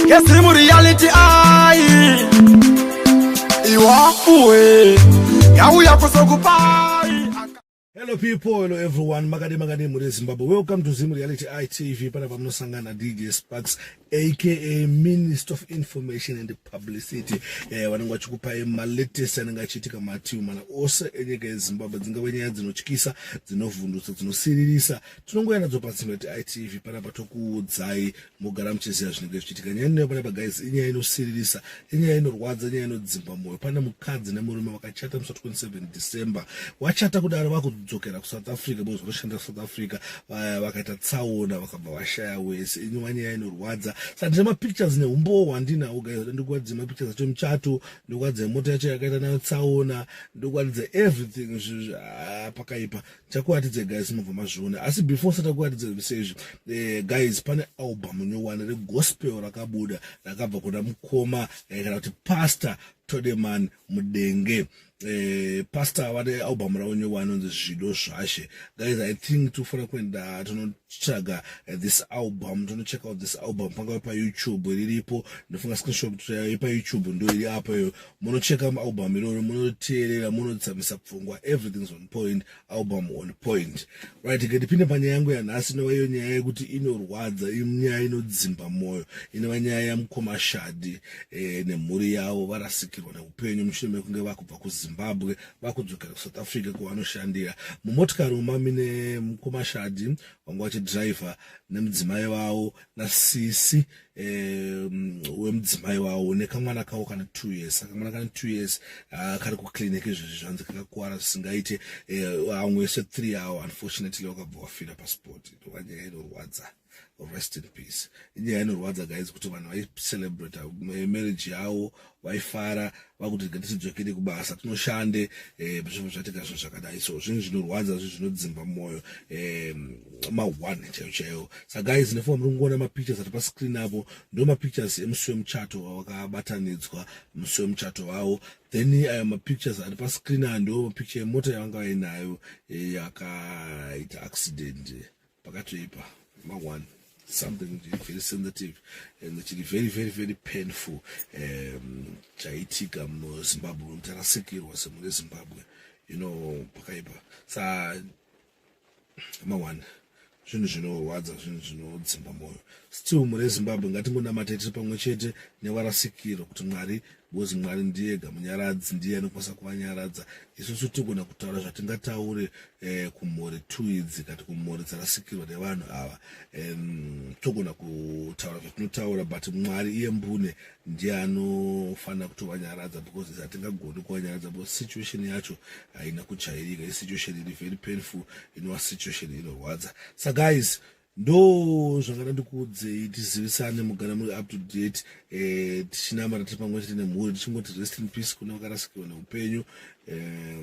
Yes, dream reality I Iwakuwe Yauya kusokupai Hello people, hello everyone, makade makade muri Zimbabwe. Welcome to Zim Reality ITV. Pana pamunosangana DJ Sparks aka Minister of Information and Publicity. Eh, vanenge vachikupai malatest anenge achiitika mativi mana ose enyika yeZimbabwe. Dzingave nyaya dzinotyisa, dzinovhundutsa, dzinosiririsa tinongoya nadzo patsino itv panapa tokuudzai mogara muchiziva zvinenge zvichiitika nyaya inoyo panapa guys inyaya inosiririsa inyaya inorwadza inyaya inodzimba mwoyo pane mukadzi nemurume vakachata musi 27 december wachata kudaro vakudzokera kusouth africa because vanoshanda kusouth africa vaya vakaita tsaona vakabva vashaya wese inyova nyaya inorwadza saka ndine mapictures neumbowo hwandinawo guys ndikuratidza mapictures acho muchato ndikuratidza mota yacho yakaita nayo tsaona ndikuratidza everything ah, pakaipa takuratidze guys mobva mazviona asi before satakuratidze zvese izvi eh, guys pane album nyowani regospel rakabuda rakabva kuna mukoma eh, kana kuti pastor todeman mudenge eh, pastor vane album ravo nyowani onzi zvido zvashe guys i think tofanira kuenda tonotsvaga eh, this album tonocheck out this album pangave payoutube riripo ndofunga screenshot eh, payoutube ndo iri apo iyo munocheka album iroro munoteerera munotsamisa pfungwa everything's on point album on point right ngatipinde panyaya yangu yanhasi inova iyo nyaya yekuti inorwadza inyaya inodzimba mwoyo inova nyaya yamukoma shadi eh, nemhuri yavo varasikirwa neupenyu mushure mekunge vakubva kuzimbabwe vakudzokera kusouth africa kwavanoshandira mumotikari umami nemukoma shadi vanga vachidhiraivha nemudzimai vavo nasisi um, wemudzimai wawo nekamwana kawo kana two years akamwana kana two years uh, kari kuclinic izvezvi zvanzi kakakuwara zvisingaite uh, amwe ese three awo unfortunately wakabva wafira pasport ndova nyaya inorwadza rest in peace inyaya inorwadza guys kuti vanhu vaicelebrate eh, marriage yawo vaifara vakuti rega tidzokere kubasa tinoshande eh, zvinhu zvatika zvinhu zvakadai so zvinhu zvinorwadza zvinhu zvinodzimba mwoyo eh, ma1 chaiyo chaiyo sa guys nefoa muri kungoona mapictures ari pascreen apo ndo mapictures emusi wemuchato wakabatanidzwa musi wemuchato wavo then ayo eh, mapictures ari pascreen aya ndo mapicture yemota yavanga vainayo yakaita accident pakatoipa mangwani something very sensitive and chiri very very very painful um, chaitika muzimbabwe mnhu tarasikirwa semune zimbabwe you know pakaipa sa mangwani zvinhu zvinorwadza zvinhu zvinodzimba mwoyo still mune zimbabwe ngatingonamatei tiri pamwe chete nevarasikirwa kuti mwari Because Mwari ndiye ega munyaradzi ndiye anokwanisa kuvanyaradza. Isusu tinogona kutaura zvatingataure eh, kumhuri two idzi kati kumhuri dzarasikirwa nevanhu ava um, togona kutaura zvatinotaura but Mwari iye mbune ndiye anofanira kutovanyaradza because hatingagoni kuvanyaradza because situation yacho haina kujairika isituation iri very painful inova situation inorwadza sa guys ndo zvangada ndikuudzei tizivisane mugara muri up to date eh, tichinamata tiri pamwe chete nemhuri tichingoti rest in peace kune vakarasikirwa neupenyu eh,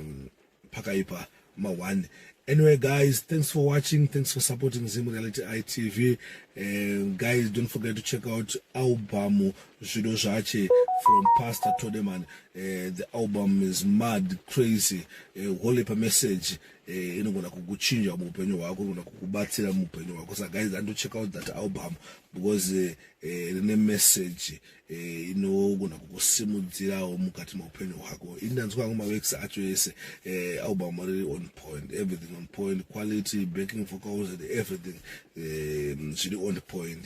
pakaipa mawani anyway guys thanks for watching thanks for supporting zim reality itv eh, guys don't forget to check out album zvido zvache from pastor todeman eh, the album is mad crazy eh, holy pa message eh, inogona kukuchinja muupenyu hwako inogona kukubatsira muupenyu hwako sa guys ando check out that album because eh, eh, rine eh, message eh, inogona kukusimudzirawo mukati meupenyu hwako ini ndanzwa angu mawex acho ese eh, album riri on point everything on point quality backing vocals and everything eh, zviri on point